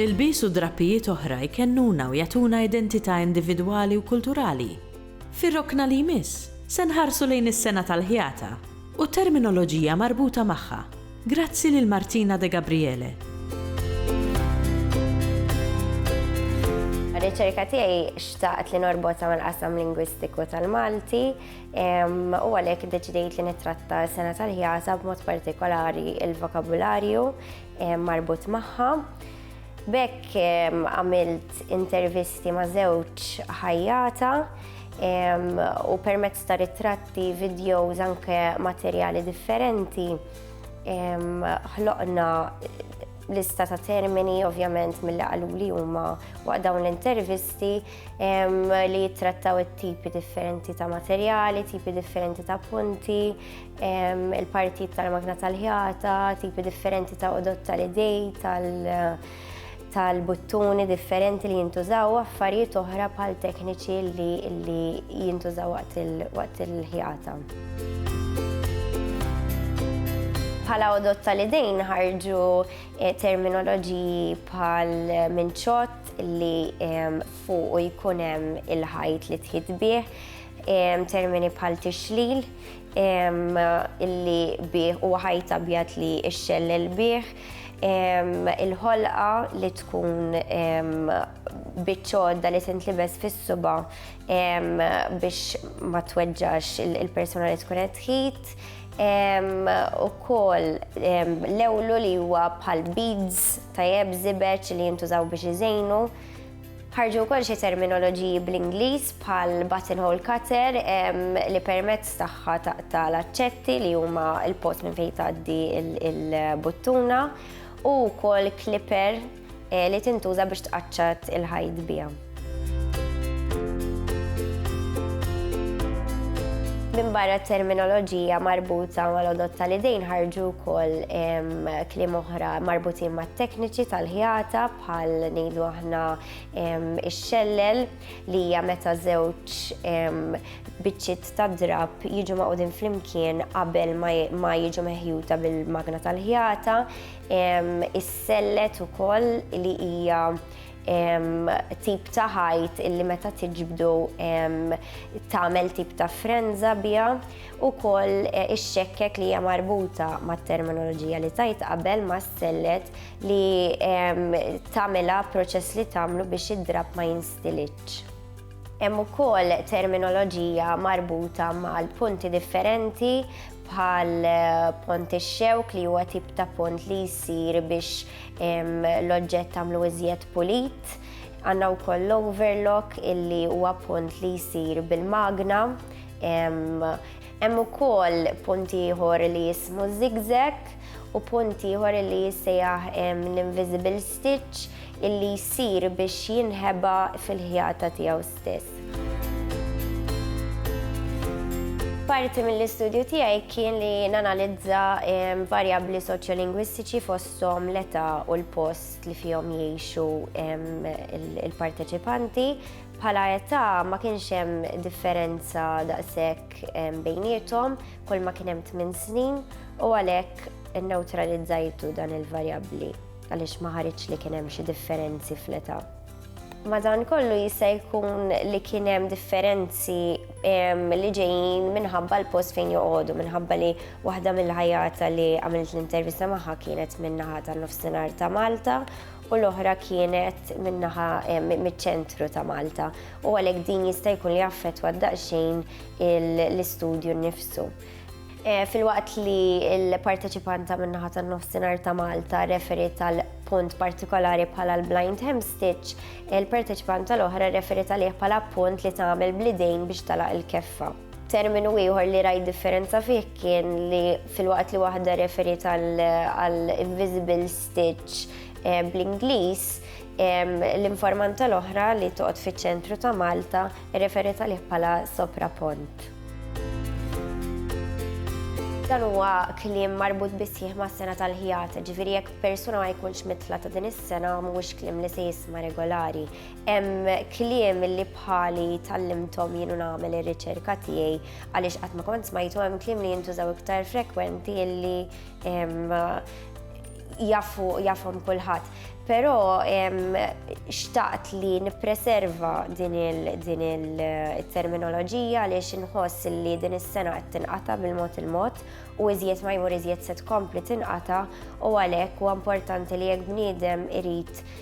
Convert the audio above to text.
L-ilbies u drappijiet oħra jkennuna u jagħtuna identità individwali u kulturali. Fir-rokna li jmiss, se nħarsu lejn is-sengħa tal-ħjata. u t-terminoloġija marbuta magħha. Grazzi lil Martina De Gabriele. Għar-riċerka tiegħi xtaqt li norbotha mal-qasam lingwistiku tal-Malti u għalhekk iddeċidejt li nittratta s-sena tal-ħjasa b'mod partikolari il-vokabularju marbut magħha. B'hekk għamilt intervisti ma' żewġ ħajjata u permezz ta' ritratti, videos, anke materjali differenti, ħloqna lista ta' termini, ovvjament mill qalu li huma waqt dawn l-intervisti li jittrattaw it-tipi differenti ta' materjali, tipi differenti ta' punti, il-partijiet tal-magna tal-ħjata, tipi differenti ta' odot tal-idej, tal-buttuni differenti li jintużaw, affarijiet oħra bħal tekniċi li jintużaw waqt il-ħjata. Bħala odot tal-idejn ħarġu eh, terminoloġiji bħal eh, minċot li fuq jkun hemm il-ħajt li tħid bih, Termini bħal tixlil illi bih u ħajt abjad li xxellel bih, il-ħolqa li tkun biċċodda li tintlibes fis-suba biex ma tweġġax il-persuna li tkun qed tħit, ukoll l-ewlu li huwa bħal beads tajjeb żibeġ li jintużaw biex iżejnu. Ħarġu wkoll xi terminoloġiji bl-Ingliż bħal buttonhole cutter li permezz tagħha taqta' l-aċċetti li huma l-post minn fejn tgħaddi il-buttuna u wkoll clipper eh, li tintuża biex tqaċċat il-ħajt biha. Minn barra terminoloġija marbuta mal-odot tal-idejn ħarġu wkoll kliem oħra marbutin mat-tekniċi tal-ħjata bħal ngħidu aħna ix-xellel li hija meta żewġ biċċiet ta' drab jiġu maqudin flimkien qabel ma jiġu meħjuta bil-magna tal-ħjata, is-sellet ukoll li hija tip ta' ħajt illi meta tiġbdu tagħmel tip ta' frenza biha u koll eh, ix-xekkek li hija marbuta mat-terminoloġija li tajt qabel ma sellet Li tagħmilha proċess li tagħmlu biex id-drapp ma jinstilitx. Hemm ukoll terminoloġija marbuta mal-punti differenti bħal eh, pont ix-xewk li huwa tip ta' pont li jsir biex l-oġġett tagħmlu iżjed pulit. Għandna wkoll l-overlock illi huwa pont li jsir bil-magna Hemm ukoll punt ieħor li jismu zigzag u punt ieħor li jissejjaħ l-invisible stitch illi jsir biex jinħeba fil-ħjata tiegħu stess. Parti mill-istudju tiegħi kien li nanalizza varjabbli soċjolingwistiċi fosthom l-età u l-post li fihom jgħixu il-parteċipanti Bħala età ma kienx hemm differenza daqshekk bejniethom, kull ma kien hemm 8 snin u għalhekk innewtralizzajtu dan il-varjabbli għaliex ma ħaritx li kien hemm xi differenzi fl-età. Madan kollu jista' jkun li kien hemm differenzi li ġejjin minħabba l-post fejn joqogħdu, minħabba li waħda mill-ħajata li għamilt l-intervista magħha kienet min-naħa tan-nofsinhar ta' Malta u l-oħra kienet min-naħa miċ-ċentru ta' Malta u għalhekk din jista' jkun li affettwat daqsxejn l-istudju nnifsu. Eh, filwaqt li l-parteċipanta minnaħa tan nofsinhar ta' Malta referi tal-punt partikolari bħala l-blind hem stitch, il-parteċipanta l-oħra referi tal-ih bħala punt li tagħmel blidejn biex talaq il-keffa. Terminu ieħor li rajt differenza fih kien li filwaqt li waħda referiet għal invisible stitch eh, bl-Ingliż, l-informant l-oħra li toqgħod fiċ-ċentru ta' Malta referiet għalih bħala soprapont. Dan huwa kliem marbut bisħiħ ma' sena tal-ħijat, ġifieri jekk persuna ma jkunx mitla ta' din is-sena mhuwiex kliem li se jisma' regolari. Hemm kliem li bħali tgħallimthom jien u nagħmel ir-riċerka tiegħi għaliex qatt ma kont smajtu hemm kliem li jintużaw iktar frekwenti li jafu jafhom kulħadd. Però xtaqt li nippreserva din il-terminoloġija għaliex inħoss li din is-sena qed tinqata' mill-mod il-mod u iżjed ma jmur iżjed se tkompli tinqata' u għalhekk huwa importanti li jekk bniedem irid